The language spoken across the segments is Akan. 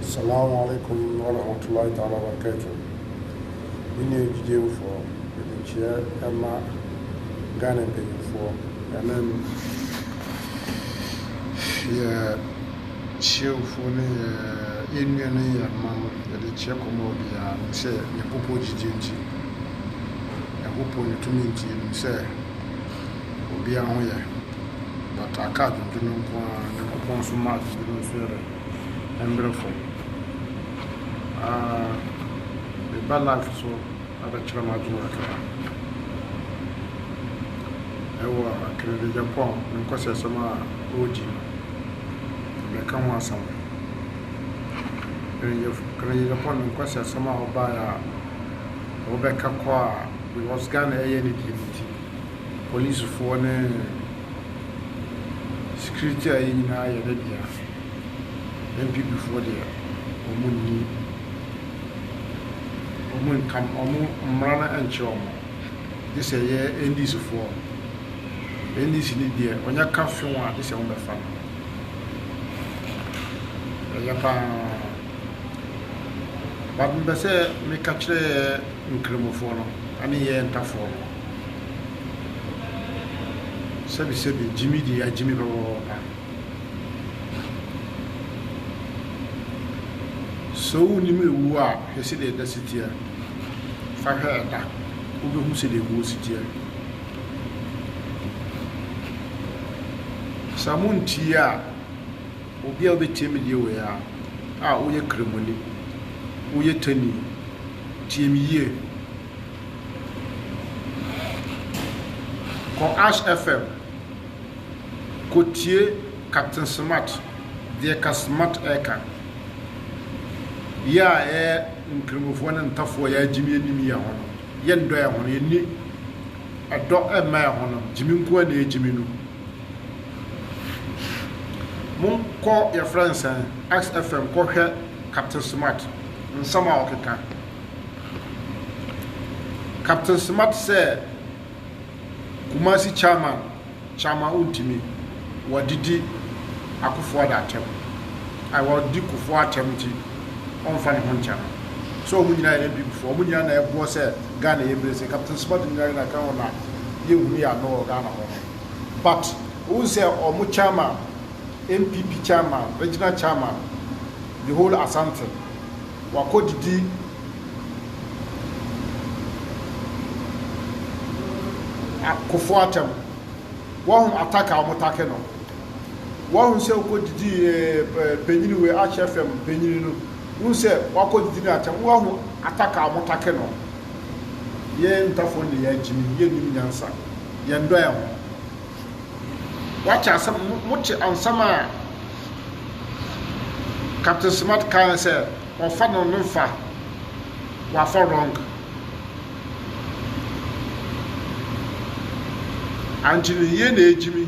Salamu alaikum warahmatullahi ta'ala wabarakatuh Me nua gyidiemfoɔ mede kyeɛ ma Ghana mpanyinfoɔ ɛne yɛ kyeɛfoɔ ne yɛ ɛnua ne yɛ mma no yɛde kyeɛ kɔma obiara nim sɛ Nyankopɔn gyidie nti Nyankopɔn ne tumi nti yɛnim sɛ obiara ho yɛ but aka adwendwen no nko ara nyankopɔn nso ma adwendwen no nso yɛ dɛ ɛmberɛ fam ah meba life so abɛkyerɛ m'adwene kakra ɛwɔ akenedegyapɔ a me nkɔsɛsɛm a ɔɔgyi no mɛka ho asɛm akenedegyapɔ no nkɔsɛsɛm a ɔbaeɛ a ɔbɛka kɔ a because Ghana ɛyɛ ne deɛ nti Polisifoɔ ne security a yɛ nyinaa yɛ ne dea. NPP foɔ deɛ wɔn nni wɔn ntam wɔn mmara no nkyerɛ wɔn gye sɛ yɛ NDC foɔ NDC ne deɛ wɔnyɛ ka few a gye sɛ wɔbɛfa no ɛyɛ paa. But mepɛ sɛ meka kyerɛ yɛ Nkramofoɔ no ne yɛ Ntafoɔ no, sɛbi sɛbi Gyimi deɛ agyimi pɛpɛpɛpɛ. Sɛ wonim ewuo a hwɛ sɛdeɛ ɛda si teɛ, fa hwɛ ɛda wobɛhu sɛdeɛ ewuo si teɛ. Sɛ montie a. Obi a obetie me deɛ wei ara a woyɛ kramoni, woyɛ tanii, tie me yie, kɔ Ash FM kɔ tie Captain Smart deɛ ka Smart ɛka, yɛ a yɛ nkramofoɔ ne ntafoɔ yɛ a gyimi anim yɛ ho no, yɛ ndɔ yɛ ho no, yɛnni ɛdɔ mma yɛ ho no, gyimi nko ara na yɛ gyimi no. Monkɔ yɛfrɛ no sɛn XFM kɔ hwɛ Captain Smart nsɛm a ɔkeka. Captain Smart sɛ Kumasi chairman chairman ontimi wadidi Akuffo Addo atɛm ai wadi Kuffo atɛm nti ɔnfa ne ho nkyɛ no sɛ ɔmo nyinaa yɛ Abib foɔ ɔmo nyinaa na ɛboɔ sɛ Ghana yɛ bere sɛ Captain Smart nyinaa na kan hɔ na yɛnhunu yɛ ano wɔ Ghana hɔ no. But wohu sɛ wɔn chairman, NPP chairman, regional chairman, the whole Asante, wakɔ didi Kufuor atɛm. Wahu attack a wɔn take no. Wahu sɛ wokɔ didi panyin wei Ash FM panyin no. Wohu sɛ wakɔ didi no atɛm. Wahu attack a wɔn take no. Yɛn ntafo no na yɛagyimim, yennim nyansa, yɛndɔ yɛn ho. Woate asɛm, mote nsɛm a Captain Smart kae sɛ ɔfa no no mfa, wafa wrong. Anti no yie na egyimi.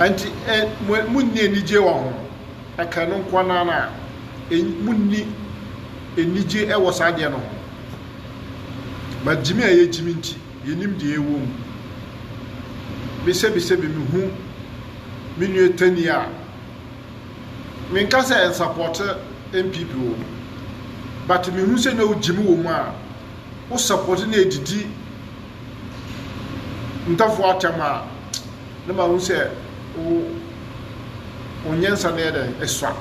Enti ɛ, mo, monni anigye wɔ ho. Ɛka ɛno nko ara na ɛ, monni anigye wɔ saa adeɛ no ho. Ba gyimi a yɛgyimi nti, yɛnim deɛ ɛwɔ mu. Me sɛbisɛ me mehu me nua Tani a, menka sɛ ɛnsapɔte NPP o, but mehu sɛ na wogyimi wɔ mu a, wosapɔte na ɛdidi ntafua atam a na mahu sɛ wo wo nyansa no yɛ dɛ ɛsua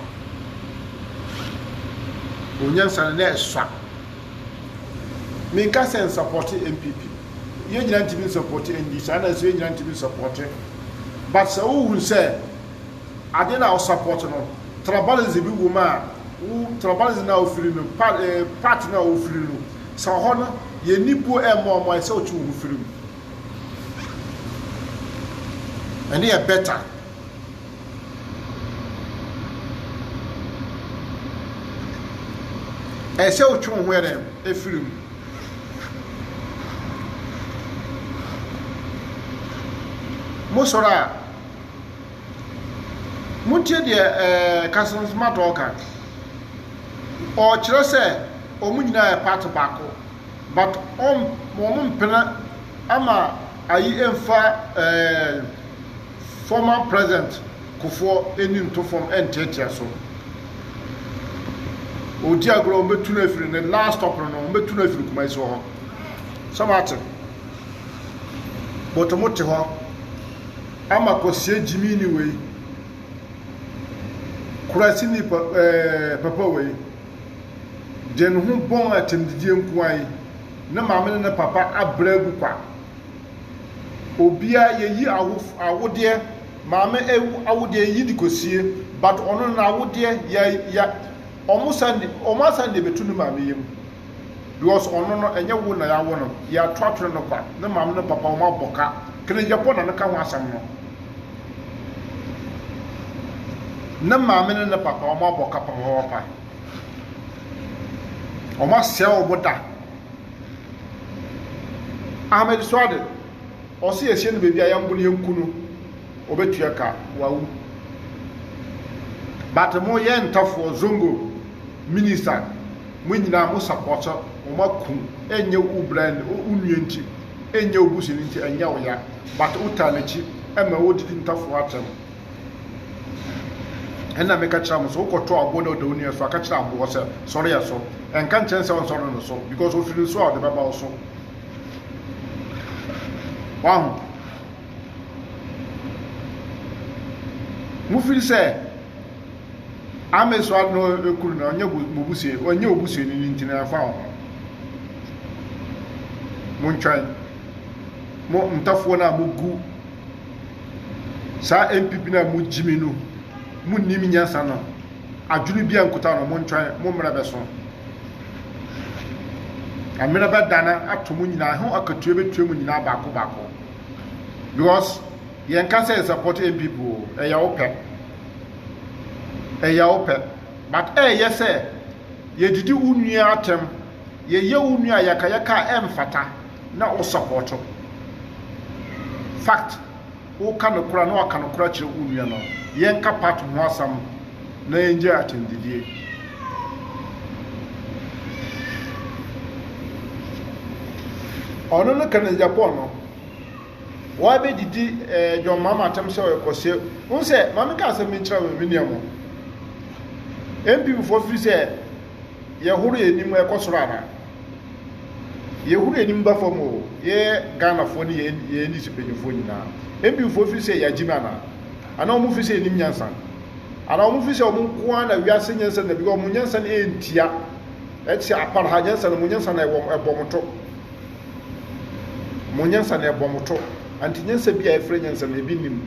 wo nyansa no na ɛsua menka sɛ nsapɔte npp yɛn nyinaa ntumi nsapɔte ndc ana nso yɛn nyinaa ntumi nsapɔte but sɛ wohu sɛ ade na wosapɔte no tribalism bi wɔ mu a wo tribalism na wofiri no part eh, part na wofiri no Sɛ ɔhɔ no yɛ nni buo ɛmmoa mmoa ɛsɛ ɔtwe wo ho firi mu. Ɛno yɛ better. Ɛsɛ ɔtwe wo ho ɛdɛm ɛfiri mu. Mo sɔrɔ a. Montie deɛ Kasanzuma Tɔɔ ka. Ɔrekyerɛ sɛ wɔn nyinaa yɛ party baako but wɔn mpene ama ayi mfa former president Kufoɔ ani nto fam nteatea so. Ɔredi agorɔ, wɔn bɛtu no afiri ne last stop no no, wɔn bɛtu no afiri Kumasi wɔ hɔ. Sɛ mo ate? But mo te hɔ. Ama kwasia gyimiini wei. Kurasini pa ɛɛ papa wei. Deɛ ne ho bɔn atɛmdidie nko ara yi. Ne maame ne ne papa abrɛ agu kwa. Obiara yɛyi awo awodeɛ maame awodeɛ yɛyi de kɔsie but ɔno n'awodeɛ yɛ yɛ wɔn san wɔn asan de abɛto ne maame yam. because ɔno no ɛnyɛ wo na yawo no yɛ ato atwene no kwa ne maame ne papa wɔn abɔ ka kenegya po na no ka ho asɛm no ne maame ne ne papa wɔn abɔ ka papapapa wɔn asɛe wɔn da ahmed suade ɔsi yɛsie no baabi a yɛmbo no yɛnku no ɔbɛtua ka wawu but mo yɛ ntafoɔ zongo Minister mo nyinaa mo support wo ma kun ɛnyɛ wo bra nti wo nua nti ɛnyɛ wo busuani nti ɛnyɛ wo ya but wo taa nakyi ɛma wo didi ntafo atɛm ɛna meka kyerɛ mo sɛ wo kɔto aboɔ na ɔda wo nua so aka kyerɛ aboɔ sɛ sɔre yɛ so ɛnka nkyɛn sɛ ɔnsɔre no so because ofiri nso a ɔde bɛba wo so wahu mo firi sɛ Amesoa no kunu no ɔnyɛ mobusua ɔnyɛ obusuani no nti na ɛfa ho montwɛn mo ntɔfoɔ no a mogu saa npp no a mogyimi no monnim nyansa no adwene bi ankuta no montwɛn mo mmerɛ bɛso mmerɛ bɛdana ato mo nyinaa ho akatua bɛtua mu nyinaa baako baako because yɛnka sɛ support npp o ɛyɛ wo pɛ Ɛyɛ wo pɛ. But ɛyɛ sɛ yɛdidi wo nua atɛm, yɛyɛ wo nua ayakayaka a ɛmfata na wo support. Fact, wo ka nokorɛ a na waka nokorɛ akyerɛ wo nua no. Yɛnka part ho asɛm na yɛngyae atɛmdidie. Ɔno no ka no Japan no. Why be didi eh, John Mahama atam sɛ ɔyɛ kɔseɛ Wohu sɛ, ma me ka asɛm bi nkyerɛ wo me nua mu NPP foɔ firi sɛ yɛhoro yɛ anim ɛkɔ soro ana yɛhoro yɛ anim ba fam o yɛ Ghana foɔ ne yɛ NDC mpanyinfoɔ nyinaa NPP foɔ firi sɛ yɛagye no ana ana wɔn firi sɛ yɛnim nyansa ana wɔn firi sɛ wɔn nkoa na wiase nyansa na bi wɔn nyansa na ɛntia ɛte apara ha nyansa na wɔn nyansa na ɛbɔ wɔn to Mo nyansa na ɛbɔ mo to. Ante nyansa bi a yɛfrɛ nyansa no, ebi nni mu.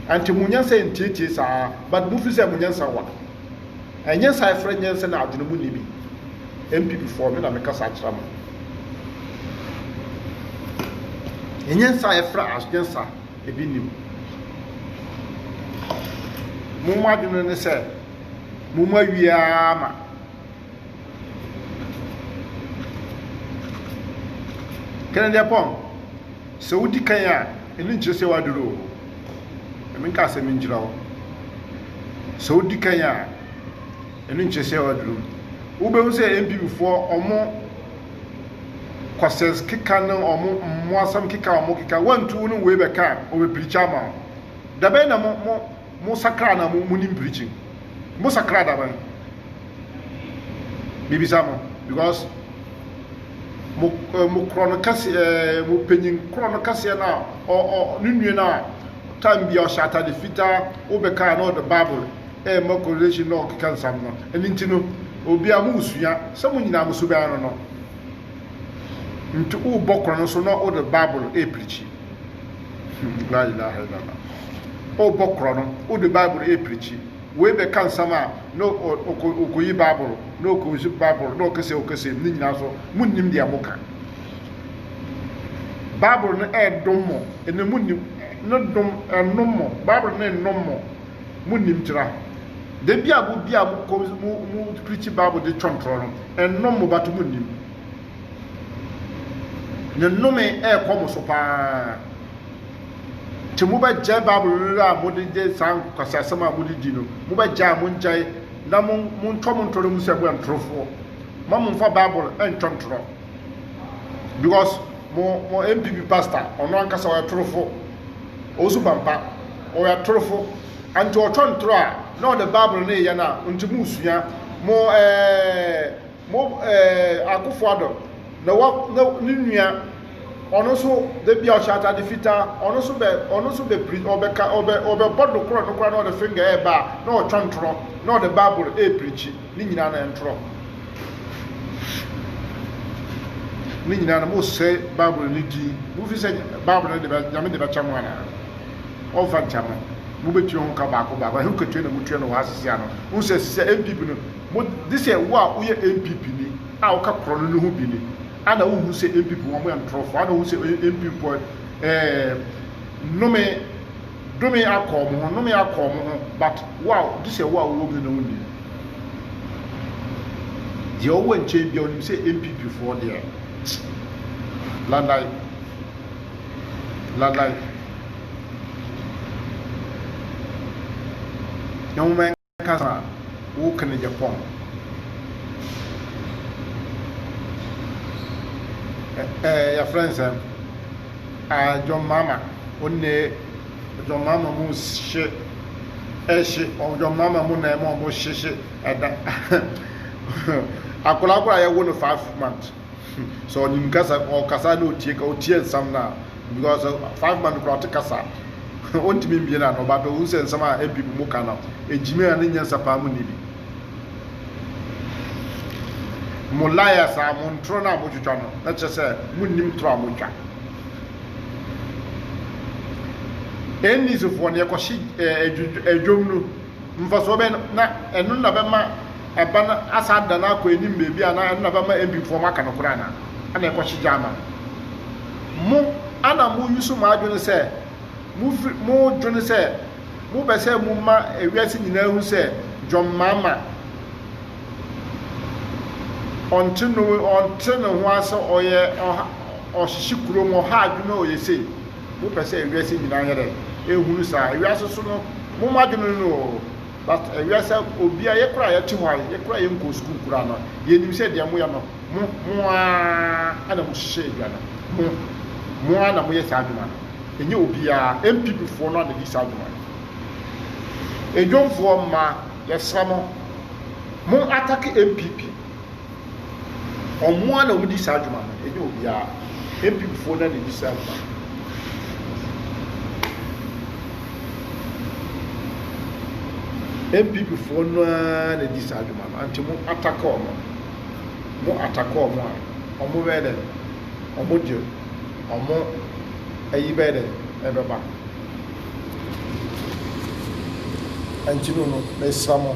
Ante mo nyansa yɛ ntiatia saa, but mo fi sɛ mo nyansa wa. Nyansa a yɛfrɛ nyansa no adwene mu nni bi. NPP foɔ, me na me kasa akyerɛ mo. Nyansa a yɛfrɛ as nyansa, ebi nni mu. Mo mo adwene no ne sɛ, mo mo awie ara ma. Kɛnɛdiapɔn, sɛ wodi kan a, ɛno nkyerɛ sɛ waduru o. Ɛmi nka sɛ mi nkyerɛ wo. Sɛ wodi kan a, ɛno nkyerɛ sɛ waduru. Wobɛhu sɛ NPP foɔ ɔmo kɔsɛs keka ne ɔmo mmoasɛm keka ɔmo keka, wantu wo ne wei bɛka a, ɔbɛpirikyi ama wo. Dabɛn na mo mo Mo sakra na mo mo nim preaching. Mo sakra da ban. Me bisa mo because mo eh, mo korɔ no kɛse eh, mo panyin korɔ no kɛseɛ na ɔ ɔ ne nua na time bia ɔhyɛ atade fitaa wobɛka na ɔde bible eh ma correlation na ɔkeka nsam no ɛne nti no obi a mo sua sɛ mo nyinaa mo suban no no nti wobɔ korɔ no so na ɔde bible eh preachi La ilaha illallah. O bɔ korɔ no, o de Bible e pirikyi. Wei bɛ ka nsɛm a, na ɔkɔ yi Bible, na ɔkɔ yi Bible, na ɔkɛsɛ ɔkɛsɛ, ne nyinaa so, mo nnim deɛ mo ka. Bible no e dom mo, ɛnɛ mo nnim, ne dom, ɛnom mo, Bible no e nom mo, mo nnim tira. Da bi a mo bi a mo kɔ, mo, mo pirikyi Bible de twɔntorɔ no, ɛnom mo, bato mo nnim. Ne nnome rekɔ mo so paa. Nti mobɛgyae Bible no a mode de saa nkwasiasɛm a mode di no, mobɛgyae a mongyae na montɔ mo ntɔrɔ mu sɛ moyɛ ntorofoɔ. Ma momfa Bible ntɔ ntorɔ. Because mo mo MPP pastor ɔno ankasa ɔyɛ torofo. Ɔwusu pampa. Ɔyɛ torofo. Anti ɔtɔ ntorɔ a na ɔde Bible no yɛ no a nti mosua mo ɛɛ Mo eh, Akufo-Addo na wa, na ne nua, ɔno nso da bi a ɔhyɛ atade fitaa, ɔno nso bɛ, ɔno nso bɛ piri, ɔbɛ ka, ɔbɛ, ɔbɛ bɔ do korɔ no koraa na ɔde finger ɛɛba a, na ɔtwɔn ntorɔ, na ɔde Bible ɛɛpirikyi, ne nyinaa no ɛntorɔ. Ne nyinaa no mo sɛ Bible ne din, mo fi sɛ Bible no de bɛ, Nyame de bɛkyɛ mo anaa? Ɔmfa nkyɛ mo, mo bɛtua ho ka baako baako, ɛho katua na mo tua no wɔ ha sisi ano, mo sɛ sisi a NPP no, Mo de sɛ wo a woyɛ NPP ni a woka korɔ no no ho bi ni a na wonhu sɛ NPP foɔ wɔyɛ ntorɔfoɔ a na wohu sɛ NPP foɔ ɛɛ nnome dome akɔ wɔn ho nnome akɔ wɔn ho but wo a de sɛ wo a wowɔ mu no na wonnim deɛ ɔwɔ nkyɛn bia wonim sɛ NPP foɔ deɛ landan landan na wɔn kasa a woka no yɛ fɔmm. Ɛɛ yɛfrɛ no sɛn? Ɛɛ John Mahama onne John Mahama mu hye ɛhye John Mahama mu na ɛma wɔn hyehye ɛda akwadaa koro a yɛwo no five months. Sɛ ɔnim kasa, ɔkasa na otie ka otie nsɛm no a because five month kura ɔte kasa ɔntumi mbie na no but ohun sɛ nsɛm a NPP mu ka no egyimi a ne nyansa paa mu ni bi. Mo liars a mo ntoro no a motwitwa no na kyerɛ sɛ monnim toro a motwa. NDC foɔ no yɛkɔhye adwom no. Mfasoɔ bɛn na ɛno na bɛma ɛba no asan adane akɔ anim baabi anaa ɛno na bɛma MP foɔ moaka nokorɛ anaa? Ɛna ɛkɔ hye gya ama mo. Mo a na mo use mo adwene sɛ mo firi mo dwene sɛ mo pɛ sɛ mo ma ewiase nyinaa hu sɛ John Mahama ɔnte no ɔnte ne ho ase ɔyɛ ɔha ɔhyehye kurom ɔha adwene ɔyɛ sei. Mopɛ sɛ ewiase nyinaa yɛ dɛn? Ehunu saa. Ewiase so no, mo mo adwene no o, but ewiase obia yɛ kora yɛte hɔ a yɛ kora yɛ nkɔɔ sukuu kora no, yɛnim sɛ deɛ moyɛ no mo mo ara na mo hyehyɛ adwa no, mo mo ara na moyɛ saa adwuma no, ɛnyɛ obiara, NPP foɔ no ara na di saa adwuma no. Edwomfoɔ mmaa, yɛsrɛ mo, mo atake NPP. wɔn ara na wodi saa dwuma no, ɛnyɛ obiara. Mpimfoɔ no ara na ɛdi saa dwuma no. npp no ara na di saa adwuma no anti mo ataka ɔmo mo ataka ɔmo a ɔmo bɛyɛ dɛ ɔmo de ɔmo ayi bɛyɛ dɛ ɛbɛba anti no no mɛsra mo.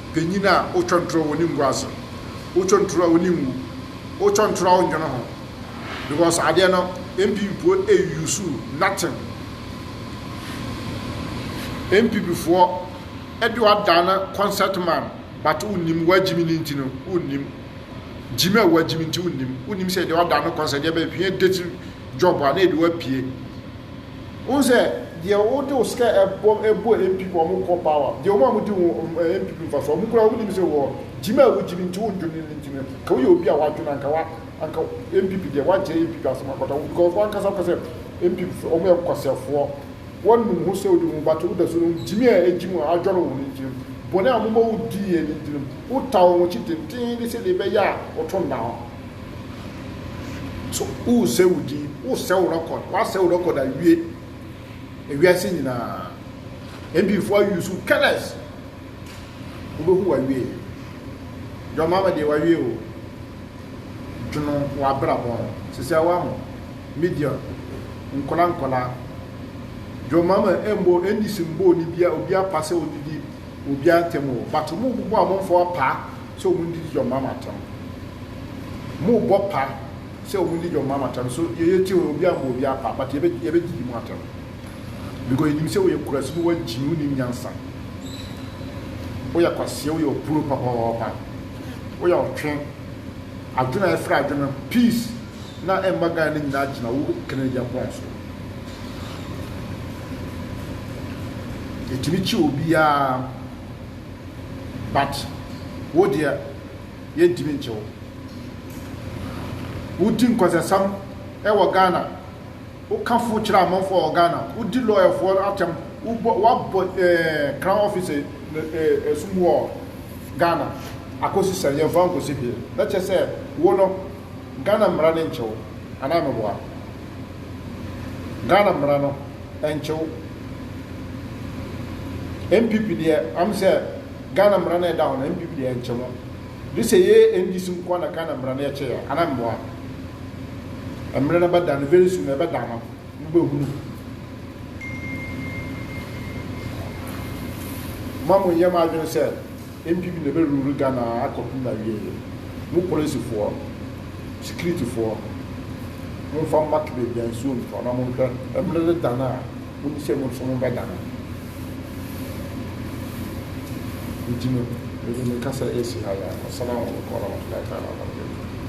Panyin a otwa ntoro a onni nguase no, otwa ntoro a onni ngu, otwa ntoro a onnwo no ho, because adeɛ no MP mpo use nothing. NPP foɔ ɛde wadan no concert man but wonnim wagyimi ne nti no wonnim gyimi a wagyimi nti wonnim wonnim sɛ ɛde wadan no concert deɛ bɛhwɛ date job a na ɛde wapue. Wohu sɛ deɛ wode wo sika bɔ bɔ npp ma wɔn kɔ power deɛ wɔn a wɔdi wo npp mfasoɔ wɔn koraa wɔn nim sɛ wɔ gyimi a wogyimi nti wo dwene no nti no nka woyɛ obi a wadwene anka wa anka npp deɛ wagye npp asɛm akɔta wo because wɔn ankasa kɔ sɛ npp fɛ wɔn yɛ kɔsɛfoɔ wɔn nim ho sɛ wodi ho but wo da so no gyimi a egyimi wɔn adwɔre wɔn nti no bɔne a wɔn bɔ wo di yɛ no nti no wo ta wɔn akyi tenten de sɛ deɛ ɛbɛyɛ a wɔto nna hɔ. So woresɛe wo din? Woresɛe wo record? Woasɛe wo record awie? Ewiase nyinaa. MPfoɔ ayi so careless. Wobɛhu wawie. John Mahama deɛ wawie o. Dwono w'abrabɔ ho. Sisi awa mo. Media. Nkɔla nkɔla. John Mahama ɛmbɔ NDC mbɔ ne bia obi apa sɛ ɔdidi obi antɛm o. But mo bobɔ amanfoɔ apaa. sɛ wɔn didi John Mahama atɛm. Wɔn rebɔ pa sɛ wɔn di John Mahama atɛm so yɛ yɛ tie obi anbɔ obi apa but yɛ bɛ yɛ bɛ didi mu atɛm because yɛ nim sɛ wɔyɛ kurasi no wɔn gyimi wɔn nim nyansa wɔyɛ kwaseɛ wɔyɛ ɔpuro papɔɔpa wɔyɛ ɔtwe adwene a yɛfrɛ adwene peace na ɛmma Ghana no nyinaa gyina wo kene yɛ pɔn so yɛtumi kyi obiara. But wo deɛ yɛntumi ngye wo. Wodi nkwasasɛm wɔ Ghana, woka fo kyerɛ amanfoɔ wɔ Ghana, wodi lɔyafoɔ no atɛm, wobɔ woabɔ ɛɛ Crown Office no ɛɛ ɛsum wɔ Ghana akosi sɛn? Yɛnfa wo nkɔsi hwee. Na kyerɛ sɛ wo no. Ghana mmara no nkyew anaa meboa no? Ghana mmara no nkyew. NPP deɛ am sɛ Ghana mmara no ɛda hɔ no NPP deɛ nkye mo. Gye sɛ yɛ NDC nko ara na Ghana mmara no ɛkye yɛ anaa meboa no? Mmerɛ no bɛda no very soon ɛbɛda no mo bɛhunu. Mo a mo nyɛ mo adwene sɛ. Npp na ɛbɛ rule Ghana akɔpem na wieɛ. Mo polisifoɔ, sikiritifoɔ, monfa mmak baabi a nsuo ntɔ na monhwɛ mmerɛ de da no a monim sɛ mo nso mobɛ da no. Nti no, me nso meka sɛ ɛsi ha yi a, Wassalamu alaikum warahmatullahi ta'ala wabarakatuh.